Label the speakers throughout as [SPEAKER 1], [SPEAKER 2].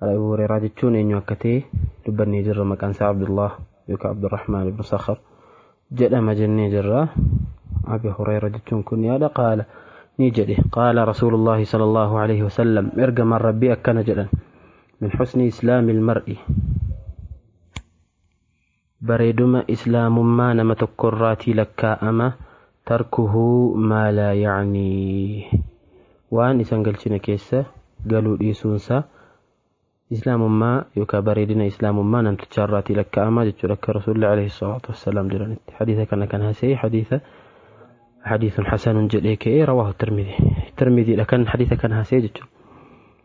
[SPEAKER 1] An Abu Hurayraa jechuun eenyu akka ta'e dubbannee jirra maqaan isaa Abdullah yookaan Abdurrahmaan ibn Sakhar jedhama jennee jirra. Abi Hurayra jechuun kun yaada qaala ni jedhe qaala Rasuulullaahi sallallahu alaihi wasallam ergamaan Rabbii akkana jedhan min husni islaamil mar'i Bareeduma islaamummaa nama tokkorraatii lakkaa'ama, tarkuhu maa laa ya'niih, waan isa hin galchine keessa galuu dhiisuunsaa islaamummaa yookaan bareedina islaamummaa namtichaarraatii lakkaa'ama jechuudha akka rasuulli alayhi salaatu wassalaam jedhanitti hadiisa kana kan hasee hadiisa hadiisun hasanun jedhee ka'ee rawaahu tirmidii tirmidiidha kan hadiisa kana hasee jechuudha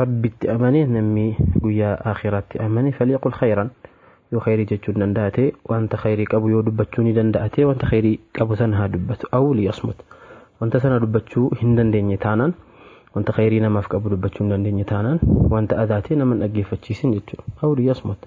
[SPEAKER 1] Rabbitti amane namni guyyaa aakhiraatti amane falyaqul khayran yoo khayrii jechuun danda'ate wanta khayrii qabu yoo dubbachuu ni danda'ate wanta khayrii qabu san haa dubbatu aw liyasmut wanta sana dubbachuu hin dandeenye taanaan wanta khayrii namaaf qabu dubbachuu hin dandeenye taanaan wanta adaatee nama hin dhaggeeffachiisin jechuudha aw liyasmut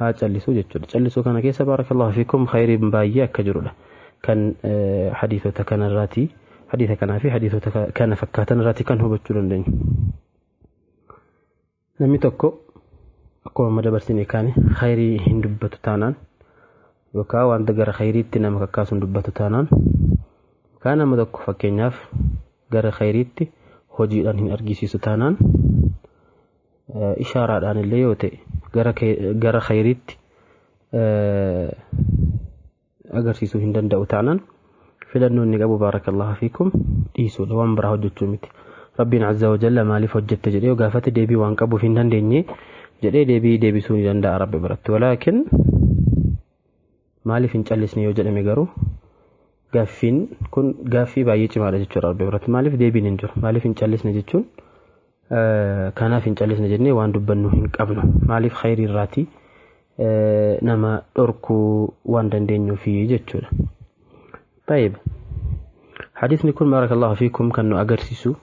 [SPEAKER 1] haa callisuu jechuudha callisuu kana keessa baarakallahu fiikum khayriin baay'ee akka jirudha kan hadiisota kanarraati hadiisa kanaa fi hadiisota kana fakkaatan irraati kan hubachuu dandeenyu namni tokko akkuma amma dabarsine kaane khayrii hin dubbatu taanaan yookaan wanta gara khayriitti nama kakkaasu hin dubbatu taanaan yookaan nama tokko fakkeenyaaf gara khayriitti hojiidhaan hin argisiisu taanaan ishaaraadhaan illee yoo ta'e gara kee- gara khayriitti eh, agarsiisuu hin danda'u taanaan filannoo inni qabu baarakallahu fiikum dhiisuudha waan biraa hojjechuu miti rabbiin azza wa jalla maaliif hojjette jedhee yoo gaafate deebii waan qabuuf hin dandeenye jedhee deebii deebisuu ni danda'a rabbi biratti walaakin Maaliif hin callisne yoo jedhame garuu gaaffiin kun gaaffii baay'ee cimaadha jechuudha Rabbi biratti. Maaliif deebiin hin jiru? Maaliif hin callisne jechuun kanaaf hin callisne jennee waan dubbannu hin qabnu. Maaliif khayrii irraatii nama dhorkuu waan dandeenyuufi jechuudha. Tayyib. Hadiisni kun barakallahu fiikum kan nu agarsiisu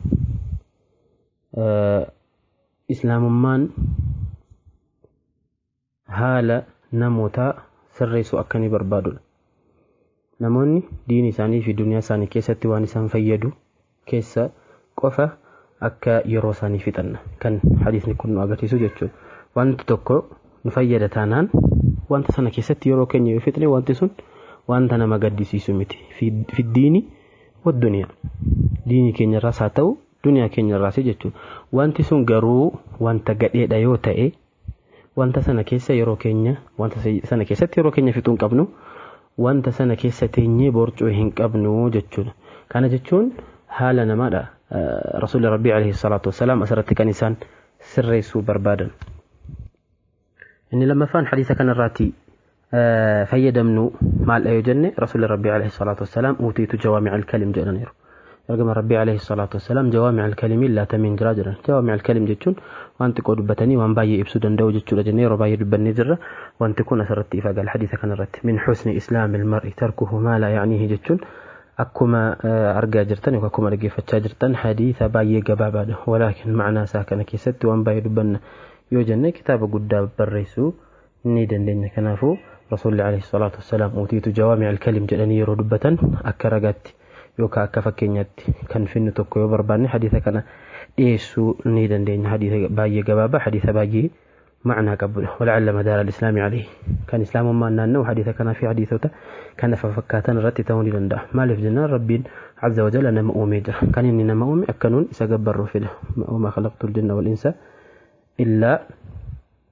[SPEAKER 1] islaamummaan haala namootaa sirreessu akka inni barbaadudha. Namoonni diini isaanii fi duniyaa isaani keessatti waan isaan fayyadu keessa qofa akka yeroo isaanii fixan kan hadiisni kun nu agarsiisu jechuudha. Wanti tokko nu fayyada taanaan wanta sana keessatti yeroo keenya yoo fixne wanti sun wanta nama gaddisiisu miti. Fiddiini wadduniyaa. Diini keenyarraas haa ta'u duniyaa keenyarraas jechuudha. Wanti sun garuu wanta gadheedha yoo ta'e Wanta sana keessa yeroo keenya wanta sana keessatti yeroo keenya fixuu hin qabnu. Wanta sana keessa teenyee borcuu hin qabnu jechuudha. Kana jechuun haala namaadha. Rasuulli Rabbii alayhi salaatu wassalaam asirratti kan isaan sirreessuu barbaadan. Inni lammaffaan hadiisa kanarraatti fayyadamnu maaldha yoo jenne rasuulli rabbii alayhi salaatu wassalaam uutiitu jawaamic alkalim jedhaniiru ergama rabbii alayhi salaatu wassalaam jawaamic alkalimiin laatamiin jira jedhan jawaamic alkalim jechuun waan xiqqoo dubbatanii waan baay'ee ibsuu danda'u jechuudha jennee yeroo baay'ee dubbannee jirra wanti kun asirratti ifa gala hadiisa kanarratti min husni islaami ilmar'i tarkuhu maa laa ya'niihi jechuun akkuma argaa jirtan yookaan akkuma dhaggeeffachaa jirtan hadiisa baay'ee gabaabaadha walaakin ma'anaa isaa kana keessatti waan baay'ee dubbanna yoo jenne kitaaba guddaa barreessuu ni dandeenya kanaafuu rasuulli alayhi salaatu wassalaam uutiitu jawaami alkalim jedhanii yeroo dubbatan akka ragaatti yookaan akka fakkeenyaatti kan finnu tokko yoo barbaanne hadiisa kana dhiyeessuu ni dandeenya hadiisa baay'ee gabaabaa hadiisa baay'ee ma'anaa qabudha wala'alla madaara al-islaami alayhi kan islaamummaan naanna'u hadiisa kanaa fi hadiisota kan afa fakkaatan irratti ta'uu ni danda'a maaliif jennaan rabbiin azza wa jalla nama uumee jira kan inni nama uume akkanuun isa gabbarruufidha wama khalaqtu al-jinna wal insa illaa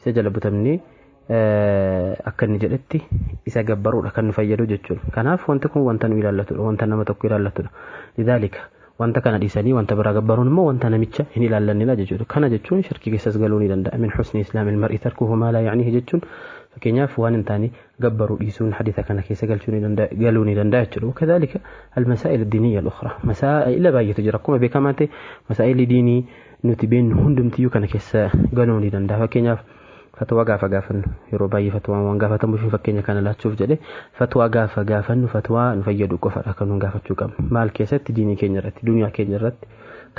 [SPEAKER 1] isa jala butamnee akka inni jedhetti isa gabbaruudha kan nu fayyadu jechuudha. Kanaaf wanti kun wanta nu ilaallatudha, wanta nama tokko ilaallatudha. Lidaalika wanta kana dhiisanii wanta biraa gabbaruun immoo wanta namicha hin ilaallannedha jechuudha. Kana jechuun shirkii keessas galuu ni danda'a. Min husni islaamil mar'i tarkuhu maa laa ya'nihi jechuun fakkeenyaaf waan hin taane gabbaruu dhiisuun hadiisa kana keessa galchuu ni danda'a galuu ni danda'a jechuudha. Wakadaalika almasaa'il diiniyya al-ukhraa masaa'ila baay'eetu jira akkuma beekamaa ta'e masaa'illi diinii nuti beennu hundumtiyyuu kana keessa galuu ni danda'a. Fakkeenyaaf fatwaa gaafa gaafannu yeroo baay'ee fatwaan waan gaafatamuuf hin fakkeenya kana laachuuf jedhe fatwaa gaafa gaafannu fatwaa nu fayyadu qofadha kan nuun gaafachuu qabnu. Maal keessatti diinii keenya irratti duniyaa keenya irratti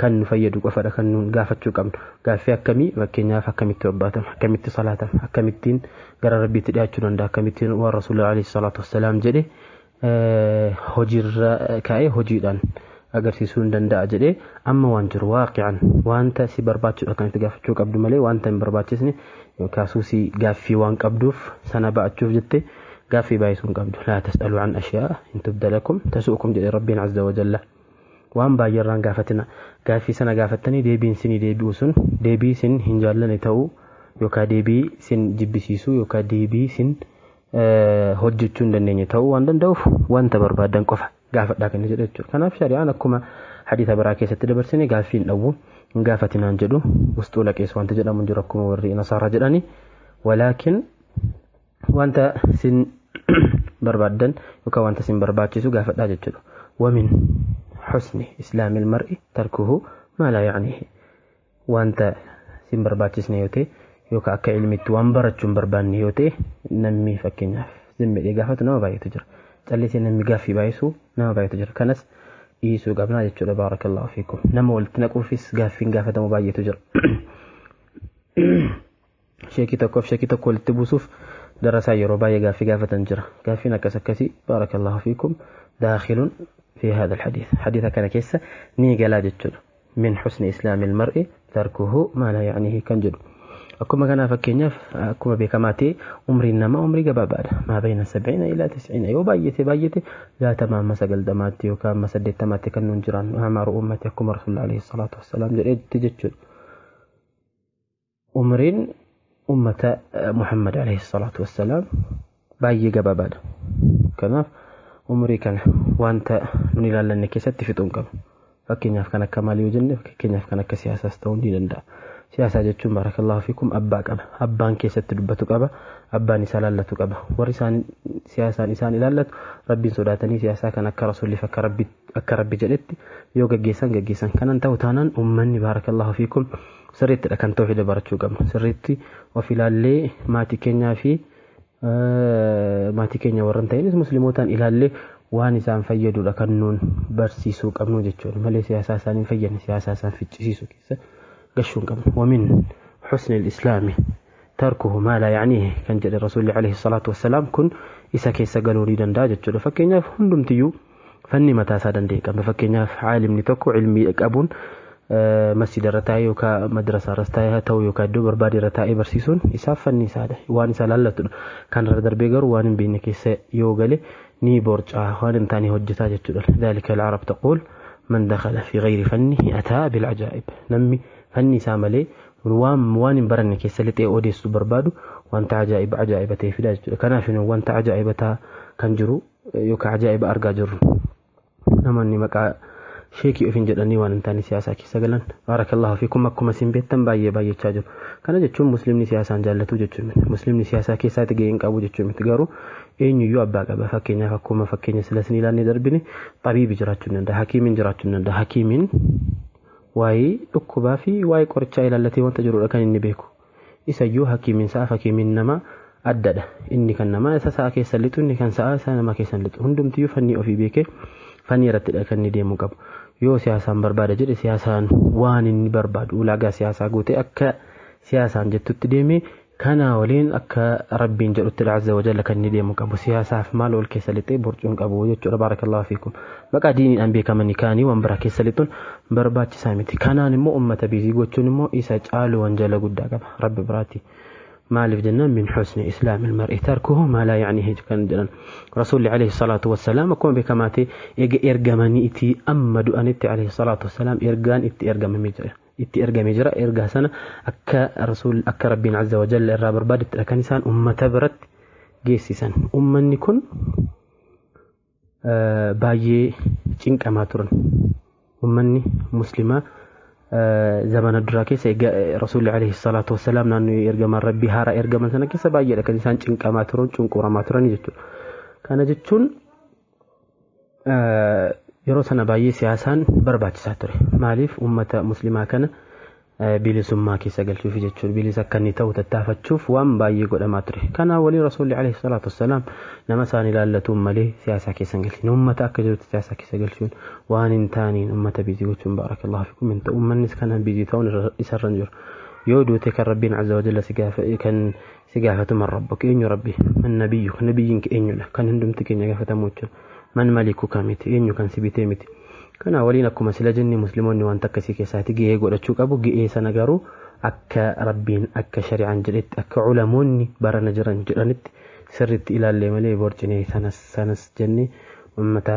[SPEAKER 1] kan nu fayyadu qofadha kan nuun gaafachuu qabnu. Gaaffii akkamii fakkeenyaaf akkamitti obbaatama akkamitti salaatama akkamittiin gara rabbiitti dhiyaachuu danda'a akkamittiin waan rasuulli alayhi salaatu wassalaam jedhe hojiirra kaa'ee hojiidhaan agarsiisuu hin danda'a jedhee amma waan jiru waaqi'an wanta si barbaachisuudha kan itti gaafachuu qabdu malee wanta hin barbaachisne kaasuu si gaaffii waan qabduuf sana ba'achuuf jette gaaffii baay'isuu hin qabdu laa tas'aluu an ashiyaa hin tubdalakum tasu'ukum jedhe rabbiin azza wa jalla waan baay'eerraan gaafatina gaaffii sana gaafattanii deebiin sinii deebi'u sun deebii sin hin jaallane ta'uu yookaan deebii sin jibbisiisuu yookaan deebii sin hojjechuu hin dandeenye ta'uu waan danda'uuf wanta barbaadan qofa gaafadhaa kan jedhu jechuudha. Kanaaf shari'aan akkuma hadiisa biraa keessatti dabarsine gaaffii hin dhowwu hin gaafatinaan jedhu wusxuu laqees wanta jedhamu hin jiru akkuma warri nasaaraa jedhani walaakin wanta sin barbaadan yookaan wanta sin barbaachisu gaafadhaa jechuudha. Wamin husni islaamil mar'i tarkuhu maa laa yaanihi. wanta sin barbaachisne yoo ta'e yookaan akka ilmitti waan barachuu hin barbaanne yoo ta'e namni fakkeenyaaf zim jedhee gaafatu nama baay'eetu jira. Callisee namni gaaffii baay'isu nama baay'eetu jira. Kanas dhiisuu qabnaa jechuudha baarakallahu fiikum. Nama walitti naquufis gaaffiin gaafatamu baay'eetu jira. Sheekii tokkoof sheekii tokko walitti buusuuf darasaa yeroo baay'ee gaaffii gaafatan jira. Gaaffiin akkas akkasii baarakallahu fiikum daakhilun fi haadha alhadiis. Hadiisa kana keessa ni galaa jechuudha. Min husni islaamil mar'i tarkuhu maa laa ya'nihi kan jedhu. Akkuma kanaa fakkeenyaaf akkuma beekamaa ta'e umriin namaa umrii gabaabaadha. Maa bayna sabciina ilaa tisciina yoo baay'ate baay'ate jaatama amma sagaltamaatti yookaan amma saddeettamaatti kan nuun jiraannu amaaru uummati akkuma rasuulli alayhi salaatu wassalaam jedhetti jechuudha. Umriin ummata Muhammad alayhi salaatu wassalaam baay'ee gabaabaadha. Kanaaf umrii kana wanta nun ilaallanne keessatti fixuu hin qabnu. Fakkeenyaaf kan akka maal yoo jenne fakkeenyaaf kan akka siyaasaas ta'uu ni danda'a. Siyaasaa jechuun barakallahu fiikum abbaa qaba. Abbaan keessatti dubbatu qaba. Abbaan isaa ilaallatu qaba. Warri isaan siyaasaan isaan ilaallatu rabbiin sodaatanii siyaasaa kan akka rasuulliif akka rabbitti akka rabbi jedhetti yoo gaggeessan gaggeessan kanan ta'u taanaan ummanni baarakallahu fiikum sirriittidha kan tawhida barachuu qabnu sirriitti of ilaallee maatii keenyaa fi maatii keenya warran ta'inis muslimootaan ilaallee waan isaan fayyadudha kan nuun barsiisuu qabnu jechuudha malee siyaasaa isaan hin fayyadne siyaasaa isaan ficcisiisu keessa gashuu hin qabnu wamin husni islaami tarkuhu maa laa ya'niihi kan jedhe rasuulli alayhi salaatu wassalaam kun isa keessa galuu ni danda'a jechuudha fakkeenyaaf hundumtiyyuu fanni mataa isaa danda'e qaba fakkeenyaaf caalimni tokko ilmii qabuun masjida irra taa'ee yookaan madrasaa irras taa'ee haa ta'u yookaan iddoo barbaade irra taa'ee barsiisuun isaaf fanni isaadha waan isaa laallatudha kan irra darbee garuu waan hin beekne keessa yoo gale ni borcaa waan hin taane hojjetaa jechuudha daalika al-arab taquul man dakhala fi ghayri fanni ataa bil ajaa'ib namni fanni isaa malee Kun waan waan hin baranne keessa lixee odeessu barbaadu wanta ajaa'iba ajaa'iba ta'e fida jechuudha. Kanaaf nu wanta ajaa'iba ta'a kan jiru yookaan ajaa'iba argaa jirru. Namoonni maqaa sheekii ofiin jedhanii waan hin taane siyaasaa keessa galan baarakallahu fiikum akkuma isin beektan baay'ee baay'achaa jiru. Kana jechuun muslimni siyaasaan jaallatu jechuu miti. Muslimni siyaasaa keessaatti gahee hin qabu jechuu miti. Garuu eenyuyyuu abbaa qaba. Fakkeenyaaf akkuma fakkeenya silas ni ilaannee darbine xabiibi jiraachuu ni danda'a. Hakiimiin jiraachuu ni danda'a. Hakiimiin Waa'ee dhukkubaa fi waa'ee qorichaa ilaallatee wanta jirudha kan inni beeku. Isa iyyuu hakiimiin sa'aaf hakiimiin namaa addadha. Inni kan namaa isa sa'a keessa lixu inni kan sa'aa isa namaa keessa hin lixu. Hundumtiyyuu fannii ofii beekee fannii irrattidha kan inni deemuu qabu. Yoo siyaasaan barbaada jedhe siyaasaan waan inni barbaadu ulaagaa siyaasaa guutee akka siyaasaan jettutti deemee Kanaa waliin akka Rabbiin jedhutti Azza wa Jalla kan inni deemu hin qabu. Siyaasaaf maal wal keessa lixee borcuu hin qabu jechuudha. Baarakallaahu fiikum. Maqaa diiniidhaan beekamanii kaanii waan biraa keessa lixuun barbaachisaa miti. Kanaan immoo ummata biizii gochuun immoo isa caalu wanjala guddaa qaba Rabbi biraati. maaliif jennaan min husni islaamil mar'i tarkuhu maa laa ya'nihi kan jedhan rasuulli alayhi salaatu wassalaam akkuma beekamaa ta'e ega ergamanii itti amma du'anitti alayhi salaatu wassalaam ergaan itti ergamamee jira. itti ergame jira ergaa sana akka rasuul akka rabbiin azza wajalla irraa barbaadettidha kan isaan ummata biratti geessisan ummanni kun baay'ee cinqamaa turan ummanni muslimaa zamana duraa keessa rasuulli alayhi salaatu wassalaam naannoo ergamaan rabbii haaraa ergaman sana keessa baay'eedha kan isaan cinqamaa turan cunquramaa turan jechuudha kana jechuun yeroo sana baay'ee siyaasaan barbaachisaa ture. Maaliif uummata muslimaa kana bilisummaa keessa galchuuf jechuun bilis akka inni ta'u tattaafachuuf waan baay'ee godhamaa ture. Kanaa waliin rasuulli alayhi salaatu wassalaam nama isaan ilaallatuun malee siyaasaa keessa hin galchine. Uummata akka jirutti siyaasaa keessa galchuun waan hin taaneen uummata biizii gochuun baarakallahu fikum hin ta'u. Uummannis kana biizii ta'uun isarra hin jiru. Yoo duute kan rabbiin azza wajalla si gaafa kan si gaafatu man rabbuka eenyu rabbi man nabiyyuka nabiyyiin kee eenyudha kan hundumti keenya gaafatamu jechuudha man malikuka miti eenyu kan si bitee miti kana waliin akkuma sila jenne muslimoonni waan takka si keessaati ga'ee godhachuu qabu ga'ee sana garuu akka rabbiin akka shari'aan jedhetti akka ulamoonni barana jiran jedhanitti sirritti ilaallee malee borcinee sanas sanas jenne ummata